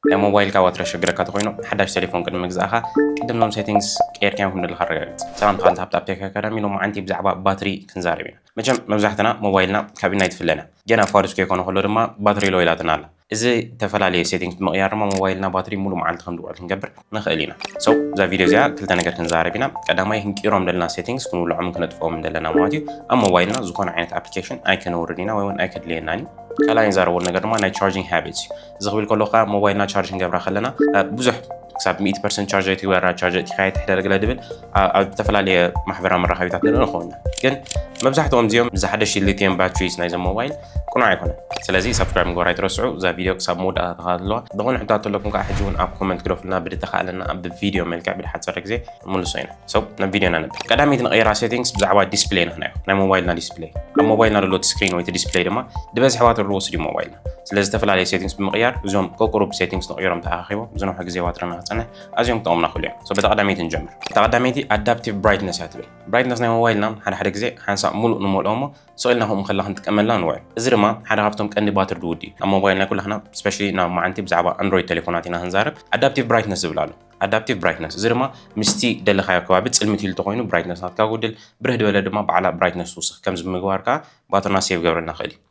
ናይ ሞባይልካ ባትሪ ዘሸግረካ ተኾይኑ ሓዳሽ ቴሌፎን ቅድሚ ምግዛእኻ ቅድም ኖም ሴቲንግስ ቀይርካዮም ከም ዘለካ ኣረጋግጽ። ሰላም ተኻልቲ ሃብታብ ቴክ ኣካዳሚ ሎማዓንቲ ብዛዕባ ባትሪ ክንዛረብ ኢና። መቸም መብዛሕትና ሞባይልና ካብ ኢድና ኣይትፍለን እያ። ጌና እኳ ርዝኪ ከይኮነ ከሎ ድማ ባትሪ ሎው ኢላትና ኣላ። እዚ እተፈላለየ ሴቲንግስ ብምቕያር ድማ ሞባይልና ባትሪ ሙሉእ መዓልቲ ከም ዝውዕል ክንገብር ንኽእል ኢና። So እዛ ቪድዮ እዚኣ ክልተ ነገር ክንዛረብ ኢና። ቀዳማይ ክንቅይሮም ዘለና ሴቲንግስ ክንውልዖምን ክነጥፍኦምን ዘለና ማለት እዩ። ኣብ ሞባይልና ዝኾነ ዓይነት ኣፕሊኬሽን ኣይከነውርድ ኢና ወይ እውን ኣይከድልየናን እዩ። ካልኣይ ንዛረበሉ ነገር ድማ ናይ ቻርጂንግ ሃቢትስ እዩ። እዚ ክብል ከሎ ከዓ ሞባይልና ቻርጅ ክንገብራ ከለና ብዙሕ ክሳብ 100 ፐርሰንት ቻርጅ እቲ ወራ ቻርጅ እቲ ካየት ሕደር ገለ ድብል ኣብ ዝተፈላለየ ማሕበራዊ መራኸቢታት ንርኢ ንኸውን ግን መብዛሕትኦም እዚኦም እዚ ሓደሽቲ ሊቲየም ባትሪስ ናይዞም ሞባይል ቅኑዕ ኣይኮነን ስለዚ ሳብስክራይብ ምግባር ኣይትረስዑ እዛ ቪድዮ ክሳብ መወዳእታ ተኸታተልዋ ዝኾነ ሕቶታት ኣለኩም ከዓ ሕጂ እውን ኣብ ኮመንት ግደፉልና ብድተኻእለና ኣብ ቪድዮ መልክዕ ብድሓፀረ ግዜ ምልሶ ኢና ሰው ናብ ቪድዮና ነብ ቀዳመይቲ ንቐይራ ሴቲንግስ ብዛዕባ ዲስፕሌይ ንኽናዮ ናይ ሞባይልና ዲስፕሌይ ኣብ ሞባይልና ዘሎ እቲ ስክሪን ወይ እቲ ዲስፕሌይ ድማ ድበዝሕዋ ትርዎ ስዲ ሞባይል ስለ ዝተፈላለዩ ሴቲንግስ ብምቕያር እዞም ቁቁሩብ ሴቲንግስ ተቐይሮም ተኣኻኺቦም ዝነውሐ ግዜ ዋትርና ክፀንሕ ኣዝዮም ክጠቕሙና ክእሉ እዮም ሶ በታ ቀዳመይቲ ንጀምር እታ ቀዳመይቲ ኣዳፕቲቭ ብራይትነስ እያ ትብል ብራይትነስ ናይ ሞባይልና ሓደ ሓደ ግዜ ሓንሳእ ሙሉእ ንመልኦ እሞ ስቕ ኢልና ከምኡ ከላ ክንጥቀመላ ንውዕል እዚ ድማ ሓደ ካብቶም ቀንዲ ባትሪ ድውድ እዩ ኣብ ሞባይል ናይ ኩላህና ስፔሻሊ ናብ መዓንቲ ብዛዕባ ኣንድሮይድ ቴሌፎናት ኢና ክንዛረብ ኣዳፕቲቭ ብራይትነስ ዝብል ኣሎ ኣዳፕቲቭ ብራይትነስ እዚ ድማ ምስቲ ደለኻዮ ከባቢ ፅልምት ኢሉ ተኮይኑ ብራይትነስ ናትካ ጉድል ብርህ ድበለ ድማ ባዕላ ብራይትነስ ትውስኽ ከምዚ ምግባር ከዓ ባትርና ሴቭ ገብረልና ክእል እዩ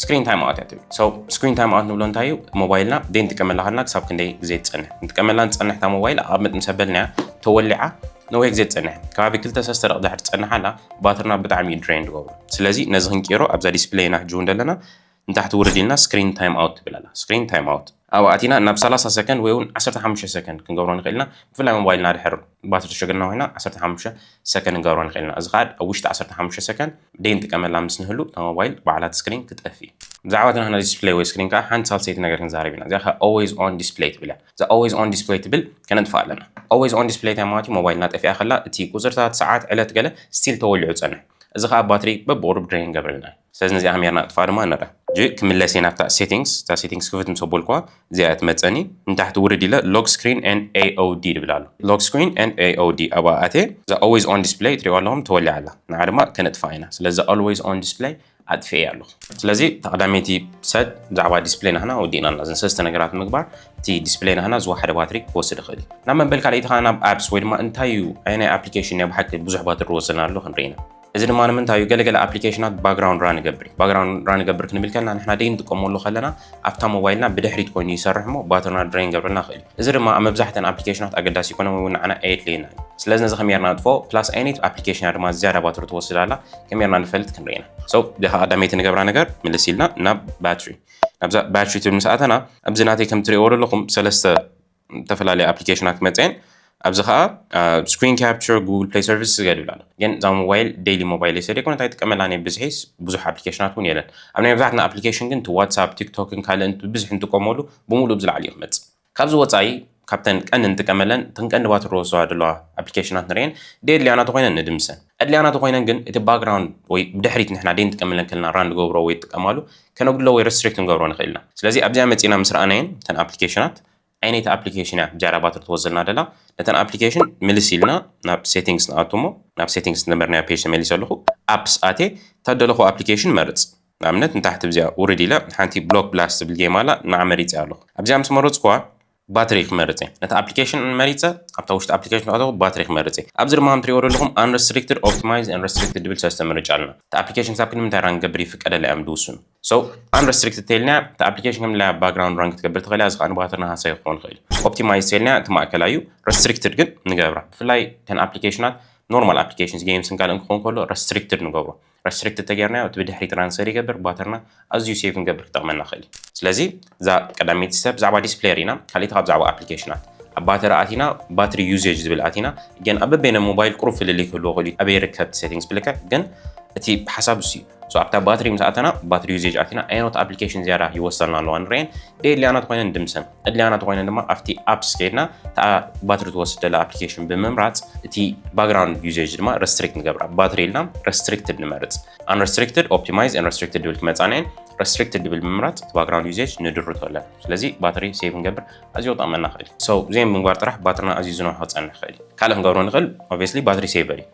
ስክሪን ታይም ኣውት እያ ትብል ሶ ስክሪን ታይም ኣውት ንብሎ እንታይ እዩ ሞባይልና ደይ ንጥቀመላ ከለና ክሳብ ክንደይ ግዜ ትፀንሕ ንጥቀመላ ንፀንሕ እታ ሞባይል ኣቐምጥ ምስ ኣበልናያ ተወሊዓ ነዊሕ ግዜ ትፀንሕ ከባቢ ክልተ ሰስተ ደቂ ድሕሪ ትፀንሓላ ባትርና ብጣዕሚ እዩ ድሬን ዝገብሩ ስለዚ ነዚ ክንቅይሮ ኣብዛ ዲስፕሌይና ሕጂ እውን ዘለና ንታሕቲ ውርድ ኢልና ስክሪን ታይም ኣውት ትብል ኣላ ስክሪን ታይም ኣውት ኣብኡ ኣቲና ናብ ሰላሳ ሰከንድ ወይ እውን ዓሰርተ ሓሙሽተ ሰከንድ ክንገብሮ ንኽእል ኢና። ብፍላይ ሞባይልና ድሕር ባትሪ ተሸግርና ኮይና ዓሰርተ ሓሙሽተ ሰከንድ ክንገብሮ ንኽእል ኢና። እዚ ከኣ ኣብ ውሽጢ ዓሰርተ ሓሙሽተ ሰከንድ ደይንጥቀመላ ምስ ንህሉ እታ ሞባይል ባዕላ እቲ ስክሪን ክትጠፍእ እዩ። ብዛዕባ እቲ ናትና ዲስፕለይ ወይ ስክሪን ከኣ ሓንቲ ሳልሰይቲ ነገር ክንዛረብ ኢና። እዚኣ ከኣ Always On Display ትብል እያ። እዛ Always On Display ትብል ከነጥፍኣ ኣለና። Always On Display እንታይ ማለት እዩ? ሞባይልና ጠፊኣ ከላ እቲ ቁጽርታት፣ ሰዓት፣ ዕለት ገለ ስቲል ተወሊዑ ዝጸንሕ። እዚ ከኣ ባትሪ በብቑሩብ ድረይን ይገብረልና እዩ። ስለዚ ነዚኣ ከመይ ጌርና ነጥፍኣ ድማ ንርኣ። ሕጂ ክምለስ እየ ናብታ ሴቲንግስ፣ እታ ሴቲንግስ ክፍት ምስ ኣበልኩዋ እዚኣ እያ ትመጸኒ። ንታሕቲ ውርድ ኢለ Lock Screen and AOD ዝብል ኣሎ፣ Lock Screen and AOD ኣብኣ ኣትየ እዛ Always On Display ትርእይዋ ኣለኹም ተወሊዓ ኣላ፣ ንዓ ድማ ከነጥፍኣ ኢና። ስለዚ እዛ Always On Display ኣጥፊኤያ ኣለኹ። ስለዚ እታ ቀዳመይቲ ሰብ ብዛዕባ ዲስፕለይ ናህና ወዲእና ኣለና። እዘን ሰለስተ ነገራት ምግባር እቲ ዲስፕለይ ናህና ዝወሓደ ባትሪ ክወስድ ይኽእል እዩ። ናብ መበል ካልኣይቲ ከኣ ናብ Apps ወይ ድማ እንታይ እዩ ኣየናይ ኣፕሊኬሽን እዩ ብሓቂ ብዙሕ ባትሪ ዝወስደና ዘሎ ክንርኢ ኢና። እዚ ድማ ንምንታይ እዩ ገለገለ ኣፕሊኬሽናት ባክግራውንድ ራን ይገብር እዩ ባክግራውንድ ራን ይገብር ክንብል ከለና ንሕና ደይ ንጥቀመሉ ከለና ኣብታ ሞባይልና ብድሕሪት ኮይኑ ይሰርሕ እሞ ባትርና ድሬን ገብረልና ይኽእል እዩ እዚ ድማ ኣብ መብዛሕተን ኣፕሊኬሽናት ኣገዳሲ ይኮነ ወይ ንዓና ኣየድልየና እዩ ስለዚ ነዚ ከመይ ርና ንጥፎ ፕላስ ኣይነት ኣፕሊኬሽን ድማ ዝያዳ ባትሪ ትወስድ ኣላ ከመይ ርና ንፈልጥ ክንርኢ ኢና ሰው ዲኻ ቀዳመይቲ ንገብራ ነገር ምልስ ኢልና ናብ ባትሪ ናብዛ ባትሪ ትብል ምስ ኣተና ኣብዚ ናተይ ከም ትሪእዎ ዘለኹም ሰለስተ ዝተፈላለያ ኣፕሊኬሽናት ክመፅኣ እየን ኣብዚ ከዓ ስክሪን ካፕቸር ጉግል ፕሌይ ሰርቪስ ዝገድብላ ኣሎ ግን እዛ ሞባይል ዴይሊ ሞባይል እየ ስለደይኮነ እንታይ ጥቀመላ ናይ ብዝሒስ ብዙሕ ኣፕሊኬሽናት እውን የለን ኣብ ናይ መብዛሕትና ኣፕሊኬሽን ግን እቲ ዋትሳፕ ቲክቶክን ካልእን ብብዝሒ እንጥቀመሉ ብምሉእ ብዝለዓሊ እዩ ክመፅእ ካብዚ ወፃኢ ካብተን ቀንዲ ንጥቀመለን እተን ቀንዲ ባትሪ ዝወስዳ ዘለዋ ኣፕሊኬሽናት ንርእየን ደየድልያና ተኮይነን ንድምሰን ኣድልያና ተኾይነን ግን እቲ ባክግራውንድ ወይ ብድሕሪት ንሕና ደይ ንጥቀምለን ከለና ራን ንገብሮ ወይ ጥቀማሉ ከነጉድሎ ወይ ረስትሪክት ንገብሮ ንኽእል ኢና ስለዚ ኣብዚኣ መጺእና ምስ ረኣናየን እተን ኣፕሊኬሽናት ዓይነይቲ ኣፕሊኬሽን እያ ብጃራ ባትሪ ትወዘልና ደላ ነተን ኣፕሊኬሽን ምልስ ኢልና ናብ ሴቲንግስ ንኣቱ እሞ ናብ ሴቲንግስ ዝነበርናዮ ፔጅ ተመሊሰ ኣለኹ ኣፕስ ኣቴ እተደለኹ ኣፕሊኬሽን መርጽ ንኣብነት ንታሕቲ ብዚኣ ውርድ ኢለ ሓንቲ ብሎክ ብላስ ዝብል ጌም ኣላ ንዓ መሪጸ ኣለኹ ኣብዚኣ ምስ መረጽኩዋ ባትሪ ክመርጽ እየ። ነቲ ኣፕሊኬሽን መሪጸ ኣብታ ውሽጢ ኣፕሊኬሽን ተኣተኹ ባትሪ ክመርጽ እየ። ኣብዚ ድማ ከም ትሪእዎ ዘለኹም Unrestricted Optimize and Restricted ድብል ሰለስተ ምርጫ ኣለና። እታ ኣፕሊኬሽን ክሳብ ክንዲ ምንታይ ራን ክገብር ይፍቀደላ እዮም ዝውስኑ። So Unrestricted ተይልናያ እታ ኣፕሊኬሽን ከም ድላያ ባግራውንድ ራን ክትገብር ትኽእል እያ እዚ ከኣ ንባትርና ሃሳዪ ክኸውን ይኽእል እዩ። Optimize ተይልናያ እቲ ማእከላይ እዩ። Restricted ግን ንገብራ። ብፍላይ እተን ኣፕሊኬሽናት ኖርማል ኣፕሊኬሽንስ ጌምስን ካልእን ክኸውን ከሎ Restricted ንገብሮ። ረስትሪክትድ ተገይርናዮ እቲ ብድሕሪ ትራንስፈር ይገብር ባተርና ኣዝዩ ሴቭ ክንገብር ክጠቕመና ይኽእል እዩ። ስለዚ እዛ ቀዳመይቲ ስቴፕ ብዛዕባ ዲስፕለይ ርኢና ካሊእቲ ካብ ብዛዕባ ኣፕሊኬሽናት ኣብ ባተሪ ኣቲና ባትሪ ዩዜጅ ዝብል ኣቲና ግን ኣብ በበይነ ሞባይል ቁሩብ ፍልልይ ክህልዎ ይኽእል እዩ ኣበይ ይርከብ እቲ ሴቲንግስ ብልክዕ ግን እቲ ሓሳብ እሱ እዩ ሶ ኣብታ ባትሪ ምስ ኣተና ባትሪ ዩዜጅ ኣቲና ኣየኖት ኣፕሊኬሽን ዝያዳ ይወሰና ኣለዋ ንርኤን ደየድልያና ተኾይነን ድምሰን ኣድልያና ተኾይነን ድማ ኣብቲ ኣፕስ ከይድና እታ ባትሪ ትወስድ ዘላ ኣፕሊኬሽን ብምምራፅ እቲ ባክግራውንድ ዩዜጅ ድማ ረስትሪክት ንገብራ ባትሪ ኢልና ረስትሪክትድ ንመርፅ ኣንረስትሪክትድ ኦፕቲማይዝ ኣንረስትሪክትድ ድብል ክመፃና እየን ረስትሪክትድ ድብል ብምምራፅ እቲ ባክግራውንድ ዩዜጅ ንድርቶ ኣለና ስለዚ ባትሪ ሴቭ ንገብር ኣዝዮ ጠቕመና ይኽእል እዩ ሰው ዘይም ምንጓር ጥራሕ ባትሪና ኣዝዩ ዝነውሖ ክፀንሕ ይኽእል እዩ ካልእ ክንገብሮ ንኽእል ኦብስሊ ባትሪ ሴቨር እዩ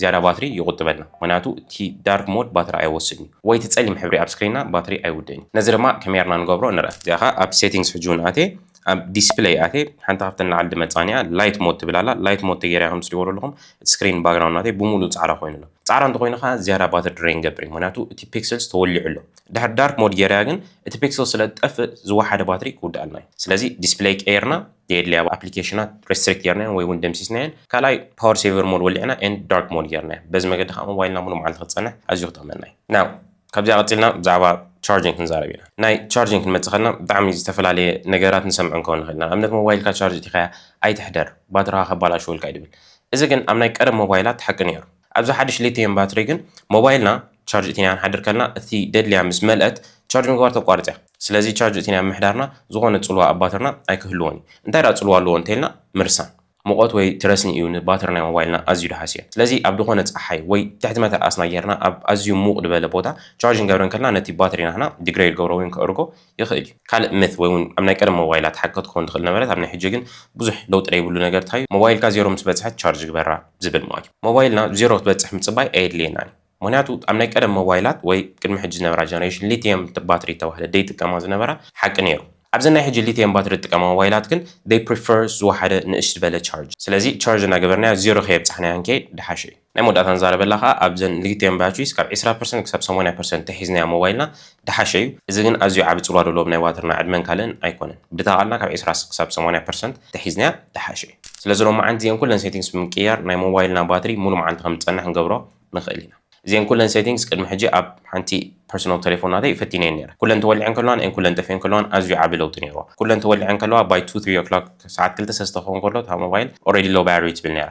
ዝያዳ ባትሪ ይቑጥበልና ምኽንያቱ እቲ ዳርክ ሞድ ባትሪ ኣይወስድን እዩ ወይ እቲ ጸሊም ሕብሪ ኣብ ስክሪንና ባትሪ ኣይውድእን እዩ ነዚ ድማ ከመይ ጌርና ንገብሮ ንርኣ እዚኣ ከኣ ኣብ ሴቲንግስ ሕጂ ውን ኣትየ ኣብ ዲስፕለይ ኣትየ ሓንቲ ካብተን ንላዕሊ ድመጻኒ እያ ላይት ሞድ ትብል ኣላ ላይት ሞድ ተጌራ ከም ትሪእዎ ዘለኹም እቲ ስክሪን ባግራውንድ ናተይ ብሙሉኡ ጻዕዳ ኮይኑ ኣሎ ጻዕዳ እንተኾይኑ ከኣ ዝያዳ ባትሪ ድሬን ይገብር እዩ ምኽንያቱ እቲ ፒክስልስ ተወሊዑ ኣሎ ድሕሪ ዳርክ ሞድ ጌረያ ግን እቲ ፒክስል ስለ ዝጠፍእ ዝወሓደ ባትሪ ክውድኣልና እዩ ስለዚ ዲስፕለይ ቀይርና ዘየድልያ ኣፕሊኬሽናት ሬስትሪክት ጌርናየን ወይ እውን ደምሲስናየን ካልኣይ ፓወር ሴቨር ሞድ ወሊዕና ኤንድ ዳርክ ሞድ ጌርናዮ በዚ መገዲ ከዓ ሞባይልና ሙሉ መዓልቲ ክትፀንሕ ኣዝዩ ክጠቕመና እዩ ናው ካብዚኣ ቀፂልና ብዛዕባ ቻርጅን ክንዛረብ ኢና ናይ ቻርጅን ክንመፅእ ከለና ብጣዕሚ ዝተፈላለየ ነገራት ንሰምዕ እንከው ንኽእል ኢና ኣብነት ሞባይልካ ቻርጅ እቲኻያ ኣይትሕደር ባትራኻ ከባላሽወልካ እዩ ድብል እዚ ግን ኣብ ናይ ቀደም ሞባይላት ሓቂ ነይሩ ኣብዚ ሓድሽ ሊትየም ባትሪ ግን ሞባይልና ቻርጅ እቲናያ ክንሓድር ከለና እቲ ደድልያ ምስ መልአት ቻርጅ ምግባር ተቋርጽ እያ። ስለዚ ቻርጅ እቲናያ ኣብ ምሕዳርና ዝኾነ ጽልዋ ኣብ ባትርና ኣይክህልዎን እዩ። እንታይ ደኣ ጽልዋ ኣለዎ እንተይልና ምርሳን ሙቐት ወይ ትረስኒ እዩ ንባትሪ ናይ ሞባይልና ኣዝዩ ደሃስዮ። ስለዚ ኣብ ድኾነ ጸሓይ ወይ ትሕቲ መተርኣስና ጌርና ኣብ ኣዝዩ ሙቕ ድበለ ቦታ ቻርጅ ክንገብረ እንከለና ነቲ ባትሪ ናህና ድግረይድ ገብሮ ወይም ከእርጎ ይኽእል እዩ ካልእ myth ወይ ውን ኣብ ናይ ቀደም ሞባይላ ትሓከ ትኮን ትኽእል ነበረት ኣብ ናይ ሕጂ ግን ብዙሕ ለውጢ ለይብሉ ነገር ታዩ ሞባይልካ ዜሮ ምስ በጽሐት ቻርጅ ግበራ ዝብል ማትዩ ሞባይልና ዜሮ ክትበጽሕ ምጽባይ ኣየድልየናን እዩ ምክንያቱ ኣብ ናይ ቀደም ሞባይላት ወይ ቅድሚ ሕጂ ዝነበራ ጀነሬሽን ሊትየም ባትሪ ዝተባህለ ደይጥቀማ ዝነበራ ሓቂ ነይሩ ኣብዘን ናይ ሕጂ ሊትየም ባትሪ ዝጥቀማ ሞባይላት ግን they prefer ዝወሓደ ንእሽ ዝበለ ቻርጅ ስለዚ ቻርጅ እናገበርናያ ዜሮ ከየብጻሕናያ ክንከይድ ድሓሸ እዩ። ናይ መወዳእታ ንዛረበላ ከኣ ኣብዘን ልግቲኤን ባቹይስ ካብ ዕስራ ፐርሰንት ክሳብ ሰማንያ ፐርሰንት ተሒዝናያ ሞባይልና ድሓሸ እዩ እዚ ግን ኣዝዩ ዓቢ ጽልዋ ደለዎም ናይ ዋትርና ዕድመን ካልእን ኣይኮነን ብተቃልና ካብ ዕስራ ክሳብ ሰማንያ ፐርሰንት ተሒዝናያ ድሓሸ እዩ ስለዚ ሎማዓንቲ እዚኤን ኩለን ሴቲንግስ ብምቅይያር ናይ ሞባይልና ባትሪ ሙሉ መዓልቲ ከም ዝጸንሕ ክንገብሮ ንክእል ኢና እዚኤን ኩለን ሴቲንግስ ቅድሚ ሕጂ ኣብ ሓንቲ ፐርሰናል ተሌፎን ናተይ ፈቲነየን ነይረ ኩለን ተወሊዐን ከለዋ ን ኩለን ጠፊኤን ከለዋን ኣዝዩ ዓቢ ለውጢ ነይርዋ ኩለን ተወሊዐን ከለዋ ባይ ቱ ትሪ ኦክሎክ ሰዓት ክልተ ሰለስተ ክከውን ከሎ እታ ሞባይል ኦረዲ ሎው ባትሪ ትብል ነይራ